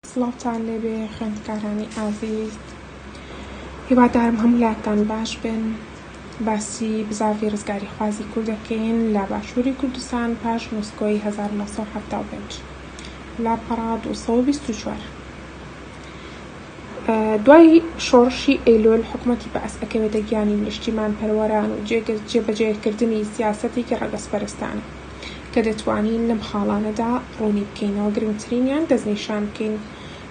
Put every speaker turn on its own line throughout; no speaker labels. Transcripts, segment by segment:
سڵاوتان لێبێ خوێندکارانی ئازیز هیوادارم هەموو لاتان باش بن باسی بزاڤی ڕزگاری خوازی کوردەکەین لە باشووری کوردستان پاش نووسکۆی 1970 لاپەڕا 224 دوای شۆڕشی ئەیلۆل حکومەتی بەعس ئەکەوێتە گیانی نیشتیمان پەروەران و جێبەجێکردنی سیاسەتێکی ڕەگەزپەرستانە کە دەتوانین لەم خاڵانەدا ڕوونی بکەینەوە گرنگترینیان دەستنیشان بکەین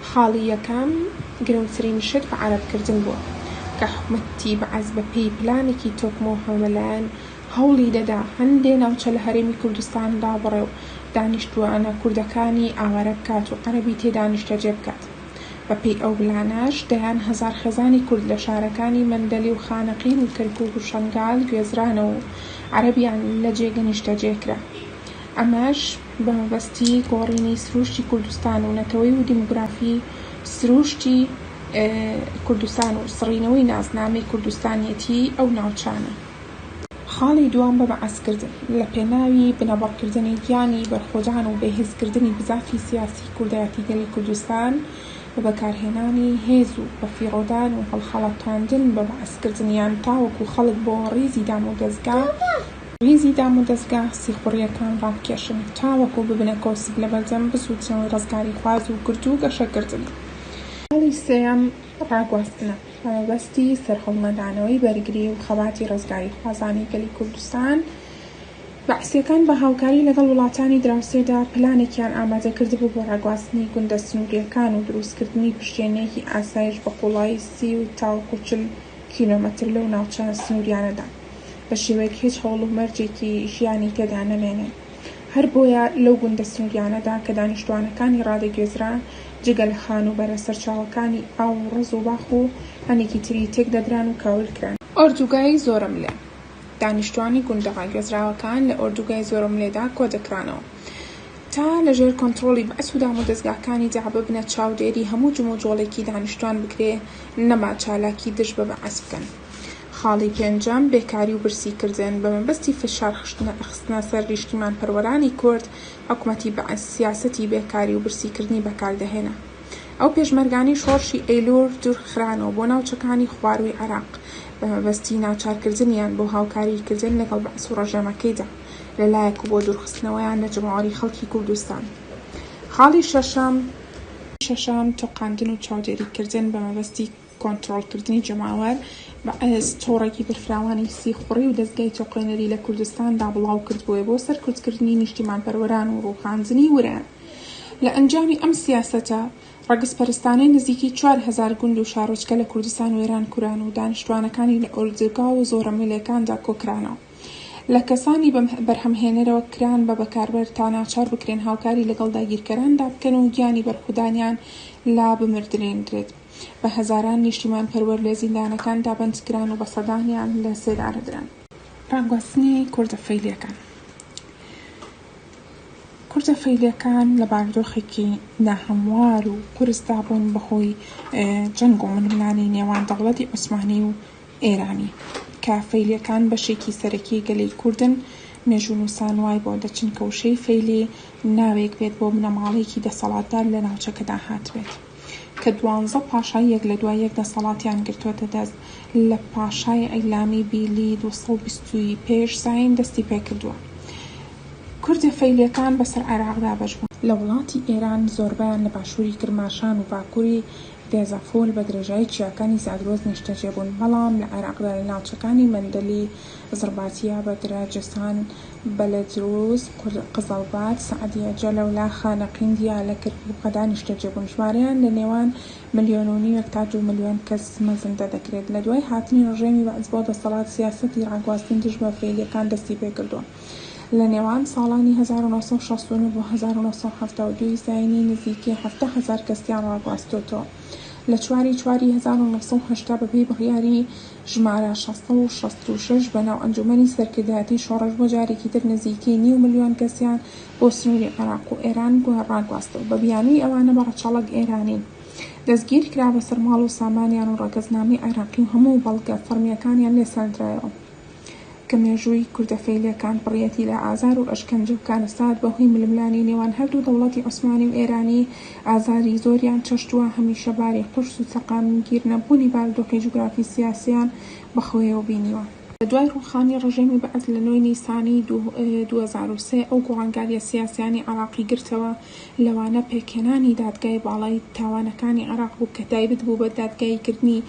خاڵی یەکەم گرنگترین شت بەعەرەبکردن بووە کە حکومەتی بەعس بەپێی پلانێکی تۆکمە و هەمەلایەن هەوڵی دەدا هەندێ ناوچە لە هەرێمی کوردستان دابڕێ و دانیشتووانە کوردەکانی ئاوارە بکات و عەرەبی تێدا نیشتەجێ بکات. بە پێی ئەو بلانەش دەیان هەزار خێزانی کورد لە شارەکانی مەندەلی و خانەقین و کەرکووک و شەنگال گوێزرانەوە و عەرەبیان لە جێگە نیشتەجێ کرا. ئەمەش بە مەبەستی گۆڕینی سرووشتی کوردستان و نەتەوەی و دیموگرافی سرووشتی کوردستان و سڕینەوەی ناسنامەی کوردستانیەتیی ئەو ناوچانە. خاڵی دووەم بەبەعسکردن لە پێناوی بنەبڕکردنی گیانی بەرخۆدان و بێهێزکردنی بزافی سیاسی کوردایەتی گەلی کوردستان بە بەکارهێنانی هێز و بەفیڕۆدان و هەڵخەڵەتاندن بەبەعسکردنیان تاوەکو خەڵک بۆ ڕیزی دامودەزگا ڕیزی دامودەزگا سیخوڕیەکان ڕابکێشن تاوەکو ببنە کۆسپ لەبەردەم بزووتنەوەی ڕزگاریخواز و گردوو گەشەکردنی. خاڵی سێیەم ڕاگواستنە هەڵوەستی سەرهەڵنەدانەوەی بەرگری و خەباتی ڕزگاریخوازانی گەلی کوردستان، بەعسییەکان بە هاوکاری لەگەڵ وڵاتانی دراوسێدا پلانێکیان ئامادە کردبوو بۆ ڕاگواستنی گوندە سنوورییەکان و دروستکردنی پشتێنەیەکی ئاسایش بە قووڵایی سی و تاوەکو چل کیلۆمەتر لەو ناوچە سنوورییانەدا بە شێوەیەک هیچ هەوڵ و مەرجێکی ژیانی تێدا نەمێنێ. هەر بۆیە لەو گوندە سنووریانەدا کە دانیشتووانەکانی ڕادەگوێزران، جگە لە خانووبەرە سەرچاوەکانی ئاو و ڕەز و باخ و هەنێکی تری تێک دەدران و کاول کران. ئۆردووگای زۆرەملێ، دانیشتووانی گوندە ڕاگوێزراوەکان لە ئۆردووگای زۆرەملێدا کۆ دەکرانەوە تا لە ژێر کۆنتڕۆڵی بەعس و دامودەزگاکانی دەع ببنە چاودێری هەموو جموجۆڵێکی دانیشتووان بکرێ نەما چالاکی دژ بە بەعس بکەن. خاڵی پێنجەم، بێکاری و برسی کردن، بە مەبەستی فشار خستنە سەر نیشتیمان پەروەرانی کورد، حکومەتی بەعس سیاسەتی بێکاری و برسی کردنی بەکار دەهێنا. ئەو پێشمەرگانەی شۆڕشی ئەیلوول دوور خرانەوە بۆ ناوچەکانی خوارووی عێراق، بە مەبەستی ناچار کردنیان بۆ هاوکاری کردن لەگەڵ بەعس و ڕژێمەکەیدا لە لایەک و بۆ دوور خستنەوەیان لە جەماوەری خەڵکی کوردستان. خاڵی شەشەم، تۆقاندن و چاودێری کردن بە مەبەستی کۆنترۆڵکردنی جەماوەر، بەعس تۆڕێکی بەرفراوانی سیخوڕی و دەزگای تۆقێنەری لە کوردستاندا بڵاوکردبووە بۆ سەرکوتکردنی نیشتیمانپەروەران و ڕووخاندنی ورەیان. لە ئەنجامی ئەم سیاسەتە ڕەگەزپەرستانەی نزیکی چوار هەزار گوند و شارۆچکە لە کوردستان وێران کران و دانیشتوانەکانی لە ئۆردوگا و زۆرەملێکاندا کۆکرانەوە لە کەسانی بەرهەمهێنەرەوە کران بە بەکاربەر تا ناچار بکرێن هاوکاری لەگەڵ داگیرکەراندا بکەن و گیانی بەرخودانیان لا بمردرێندرێت. بە هەزاران نیشتیمان پەروەر لە زیندانەکان دا بەند کران و بە سەدانیان لە سێدارە دران. ڕاگواستنی کوردە فەیلیەکان کوردە فەیلیەکان لە باردۆخێکی ناهەموار و قورس دا بوون بە هۆی جەنگ و ململانێی نێوان دەوڵەتی عوسمانی و ئێرانی کە فەیلیەکان بەشێکی سەرەکی گەلی کوردن، مێژوونووسان وای بۆ دەچن کە وشەی فەیلی ناوێک بێت بۆ بنەماڵەیەکی دەسەڵاتدار لە ناوچەکەدا هاتبێت. کە دوانزە پاشای یەک لە دوای یەک دەسەڵاتیان گرتووەتە دەست، لە پاشای عیلامی بیلی دوو سەد و بیست ی پێش زایین دەستی پێ کردووە. کوردە فەیلییەکان بە سەر عێراق دابەش بوون. لە وڵاتی ئێران زۆربەیان لە باشووری کرماشان و باکووری دێزەفوول بە درێژایی چیاکانی زاگرۆس نیشتەجێ بوون، بەڵام لە عێراقدا لە ناوچەکانی مەندەلی، زڕباتیە، بەگرە، جەسان، بەلەدروز، قزەڵبات، سەعدیە، جەلەولا، خانەقین، دیالە، کرکوک و قەدا نیشتەجێ بوون، ژمارەیان لە نێوان ملیۆن و نیوێک تا دوو ملیۆن کەس مەزەندە دەکرێت، لە دوای هاتنی ڕژێمی بەعس بۆ دەسەڵات سیاسەتی ڕاگواستن دژ بە فەیلیەکان دەستی پێکردووە لە نێوان ساڵانی هەزار و نۆ سەد و شەست و نۆ بۆ هەزار و نۆ سەد و حەفتا و دوو زاینی نزیکەی حەفتا هەزار کەسیان ڕاگواستۆتەوە لە چواری چواری هەزار و نۆ سەد و هەشتا بەپێی بڕیاری ژمارە شەش سەد و شەست و شەش بەناو ئەنجومەنی سەرکردایەتی شۆڕش بۆ جارێکی تر نزیکەی نیو ملیۆن کەسیان بۆ سنوری عێراق و ئێران ڕاگواستەوە بە بیانوی ئەوانە بە ڕەچەڵەک ئێرانی دەستگیر کرا بەسەر ماڵ و سامانیان و ڕەگەزنامەی عێراقی و هەموو بەڵگە فەڕمیەکانیان لێ سەندرایەوە کە مێژووی کوردە فەیلیەکان پڕیەتی لە ئازار و ئەشکەنجە و کارەسات بە هۆی ململانی نێوان هەردوو دەوڵەتی عوسمانی و ئێرانی ئازاری زۆریان چەشتوە هەمیشە باری قورس و سەقامگیر نەبوونی بارودۆخی جوگرافی سیاسیان بە خۆیەوە بینیوە. لە دوای ڕووخانی ڕژێمی بەعس لە نۆی نیسانی دوو هەزار و سێ ئەو گۆڕانگاریە سیاسیانەی عێراقی گرتەوە لەوانە پێکهێنانی دادگای باڵای تاوانەکانی عێراق بوو کە تایبت بوو بە دادگایی کردنی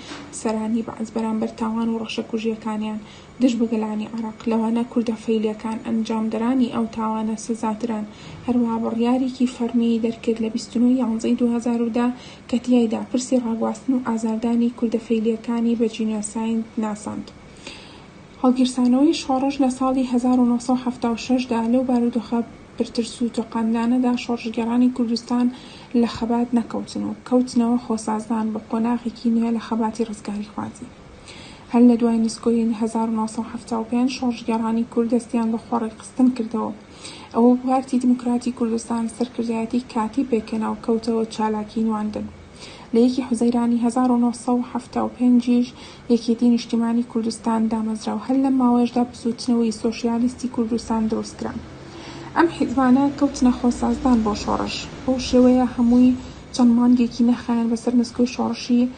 سەرانی بەعس بەرامبەر تاوان و ڕەشەکوژیەکانیان دژ بە گەلانی عێراق، لەوانە کوردە فەیلییەکان، ئەنجامدەرانی ئەو تاوانە سزادران. هەروەها بڕیارێکی فەڕمیی دەرکرد لە بیست و نۆ یانزەی دوو هەزار و دە کە تیایدا پرسی ڕاگواستن و ئازاردانی کوردە فەیلییەکانی بە جینۆساید ناساند. هەڵگیرسانەوەی شۆڕش لە ساڵی هەزار و نۆ سەد و حەفتا و شەش دا لەو بارودۆخە پرترس و تۆقاندانەدا شۆڕشگێڕانی کوردستان لە خەبات نەکەوتن و کەوتنەوە خۆسازدان بە قۆناغێکی نوێ لە خەباتی ڕزگاریخوازی. هەر لە دوای نسکۆیین هەزار و نۆ سەد و حەفتا و پێنج شۆڕشگێڕانی کورد دەستیان بە خۆڕێکخستن کردەوە. ئەوە بوو پارتی دیموکراتی کوردستان سەرکردایەتی کاتی پێکهێنا و کەوتەوە چالاکیی نواندن. لە یەکی حوزەیرانی هەزار و نۆ سەد و حەفتا و پێنج یش یەکێتی نیشتیمانی کوردستان دامەزرا و هەر لەم ماوەیەشدا بزووتنەوەی سۆشیالیستی کوردستان دروست کرا. ئەم حیزبانە کەوتنە خۆسازدان بۆ شۆڕش. بەو شێوەیە هەمووی چەند مانگێکی نەخایاند بەسەر نسکۆی شۆڕشی،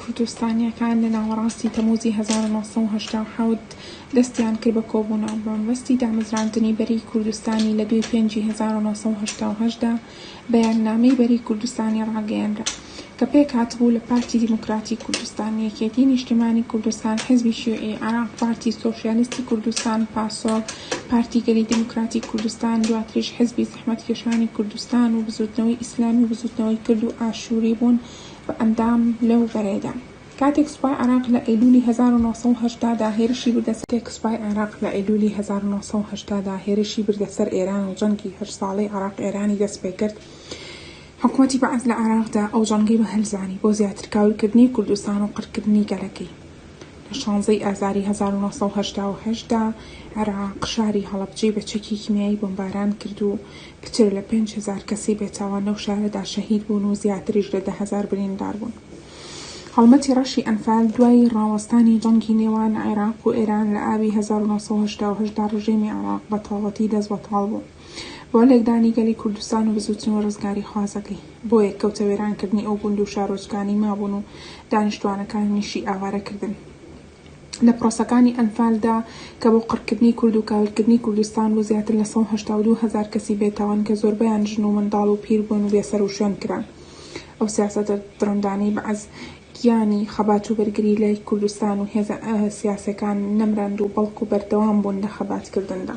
کوردستانییەکان لە ناوەڕاستی تەمووزی هەزار و نۆ سەد و هەشتا و حەوت دەستیان کرد بە کۆبوونەوە بە مەبەستی دامەزراندنی بەرەی کوردستانی لە دووی پێنجی هەزار و نۆ سەد و هەشتا و هەشت دا بەیاننامەی بەرەی کوردستانی ڕاگەیەنرا کە پێکهاتبوو لە پارتی دیموکراتی کوردستان، یەکێتی نیشتمانی کوردستان، حیزبی شیوعی عێراق، پارتی سۆسیالیستی کوردستان، پاسۆک، پارتی گەلی دیموکراتی کوردستان، دواتریش حیزبی زەحمەتکێشانی کوردستان و بزووتنەوەی ئیسلامی و بزووتنەوەی کرد و ئاشووری بوون و ئەندام لەو بەرەیدا. کاتێک سوپای عێراق لە ئەیلوولی هەزار و نۆ سەد و هەشتا دا هێرشی بردە سەر. کاتێک سوپای عێراق لە ئەیلوولی هەزار و نۆ سەد و هەشتا دا هێرشی بردە سەر ئێران و جەنگی هەشت ساڵەی عێراق-ئێرانی دەست پێ کرد، حکومەتی بەعس لە عێراقدا ئەو جەنگەی بە هەل زانی بۆ زیاتر کاول کردنی کوردستان و قڕ کردنی گەلەکەی. لە شانزە ی ئازاری هەزار و نۆ سەد و هەشتا و هەشت دا عێراق شاری هەڵەبجەی بە چەکی کیمیایی بۆمباران کرد و کچێ لە پێنج هەزار کەسی بێتاوان لەو شارەدا شەهید بوون و زیاتریش لە دە هەزار بریندار بوون. هەڵمەتی ڕەشی ئەنفال دوای ڕاوەستانی جەنگی نێوان عێراق و ئێران لە ئابی هەزار و نۆ سەد و هەشتا و هەشت دا ڕژێمی عێراق بە تەواوەتی دەست بەتاڵ بوو بۆ لێکدانی گەلی کوردستان و بزووتنەوە ڕزگاریخوازەکەی. بۆیە کەوتە وێرانکردنی ئەو گوند و شارۆچکانەی مابوون و دانیشتوانەکانیشی ئاوارە کردن. لە پرۆسەکانی ئەنفالدا کە بۆ قڕکردنی کورد و کاولکردنی کوردستان بوو زیاتر لە سەد و هەشتا و دوو هەزار کەسی بێتاوان کە زۆربەیان ژن و منداڵ و پیر بوون و بێ سەروشوێن کران ئەو سیاسەتە دڕندانەی بەعس گیانی خەبات و بەرگری لای کوردستان و هێزە سیاسەکان نەمراند و بەڵکو بەردەوام بوون لە خەباتکردندا.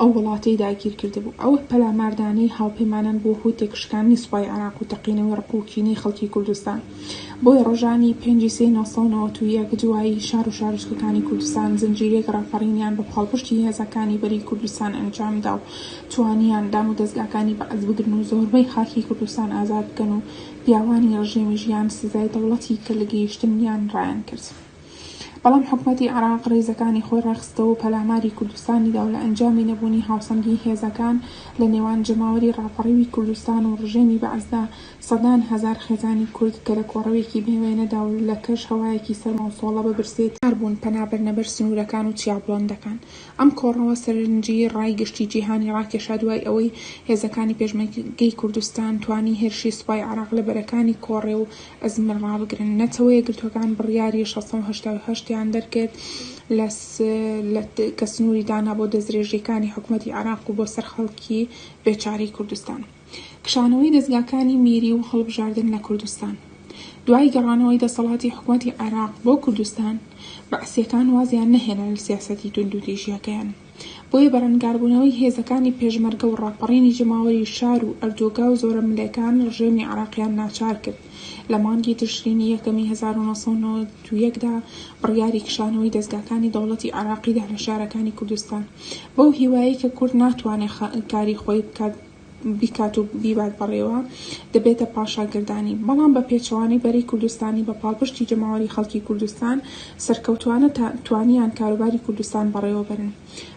ئەو وڵاتەی داگیر کردبوو. ئەو پەلاماردانەی هاوپەیمانان بۆ هوتێک شکاندنی سوپای عێراق و تەقینەوەی ڕق و کینەی خەڵکی کوردستان. بۆیە ڕۆژانی پێنج ی سێی نۆ سەد و نەوەد و یەک دوایی شار و شارۆچکەکانی کوردستان زنجیرەیەک ڕاپەڕینیان بە پاڵپشتی هێزەکانی بەرەی کوردستان ئەنجام دا و توانیان دامودەزگاکانی بەعس بگرن و زۆربەی خاکی کوردستان ئازاد بکەن و پیاوانی ڕژێمی ژیان سزای دەوڵەتی کە لە گەیشتن یان ڕایان کرد. بەڵام حکومەتی عێراق ڕیزەکانی خۆی ڕێکخستەوەو پەلاماری کوردستانی داو لە ئەنجامی نەبوونی هاوسەنگی هێزەکان لە نێوان جەماوەری ڕاپەڕیوی کوردستان و ڕژێمی بەعسدا سەدان هەزار خێزانی کورد کە لە کۆڕەوێکی بێ وێنەدا و لە کەش هەوایەکی سەرما و سۆڵە بە برسێتی مار بوون پەنا بەرنە بەر سنوورەکان و چیا بڵندەکان. ئەم کۆڕەوە سەرنجی ڕای گشتی جیهانی ڕاکێشا دوای ئەوەی هێزەکانی پێشمەرگەی کوردستان توانی هێرشی سوپای عێراق لە بەرەکانی کۆڕێ و ئەزمەر ڕابگرن. نەتەوە یەکگرتووەکان بڕیاری شەش سەد و هەشتا و هەشت یان دەرکرد لە کە سنووری دانا بۆ دەستدرێژییەکانی حکومەتی عێراق و بۆ سەر خەڵکی بێ چارەی کوردستان. کشانەوەی دەزگاکانی میری و هەڵبژاردن لە کوردستان. دوای گەڕانەوەی دەسەڵاتی حکومەتی عێراق بۆ کوردستان، بەعسییەکان وازیان نەهێنا لە سیاسەتی توندوتیژییەکەیان. بۆیە بەرەنگاربوونەوەی هێزەکانی پێشمەرگە و ڕاپەڕینی جەماوەری شار و ئەردۆگا و زۆرەملێکان ڕژێمی عێراقیان ناچار کرد لە مانگی تشرینی یەکەمی هەزار و نۆ سەد و نەوەد و یەک دا بڕیاری کشانەوەی دەزگاکانی دەوڵەتی عێراقی دا لە شارەکانی کوردستان بەو هیوایەی کە کورد ناتوانێ کاری خۆی بکات بیکات و بیبات بەڕێوە، دەبێتە پاشاگەردانی، بەڵام بە پێچەوانەی بەرەی کوردستانی بە پاڵپشتی جەماوەری خەڵکی کوردستان سەرکەوتوانە توانیان کاروباری کوردستان بەڕێوە بەرن.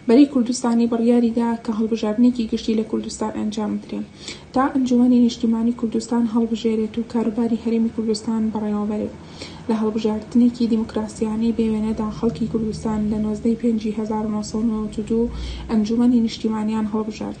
بەرەی کوردستانی بڕیاری دا کە هەڵبژاردنێکی گشتی لە کوردستان ئەنجام بدرێ تا ئەنجومەنی نیشتیمانی کوردستان هەڵبژێرێت و کاروباری هەرێمی کوردستان بەڕێوە بەرێت. لە هەڵبژاردنێکی دیموکراسیانەی بێ وێنە دا خەڵکی کوردستان لە نۆزدە ی پێنجی هەزار و نۆ سەد و نەوەد و دوو ئەنجومەنی نیشتیمانیان هەڵبژارد.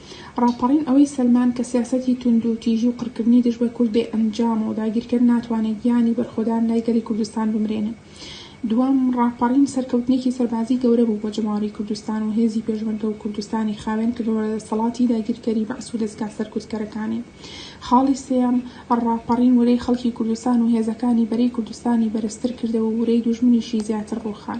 ڕاپەڕین ئەوەی سەلماند کە سیاسەتی توندوتیژی و قڕکردنی دژ بە کورد بێ ئەنجامە و داگیرکەر ناتوانێت گیانی بەرخۆدان لای گەلی کوردستان بمرێنێت. دووەم، ڕاپەڕین سەرکەوتنێکی سەربازی گەورە بوو بۆ جەماوەری کوردستان و هێزی پێشمەرگە و کوردستانی خاوێن کردەوە لە دەسەڵاتی داگیرکەری بەعس و دەزگا سەرکوتکەرەکانی. خاڵی سێیەم، ڕاپەڕین ورەی خەڵکی کوردستان و هێزەکانی بەرەی کوردستانی بەرزتر کردەوە و ورەی دوژمنیشی زیاتر ڕووخان.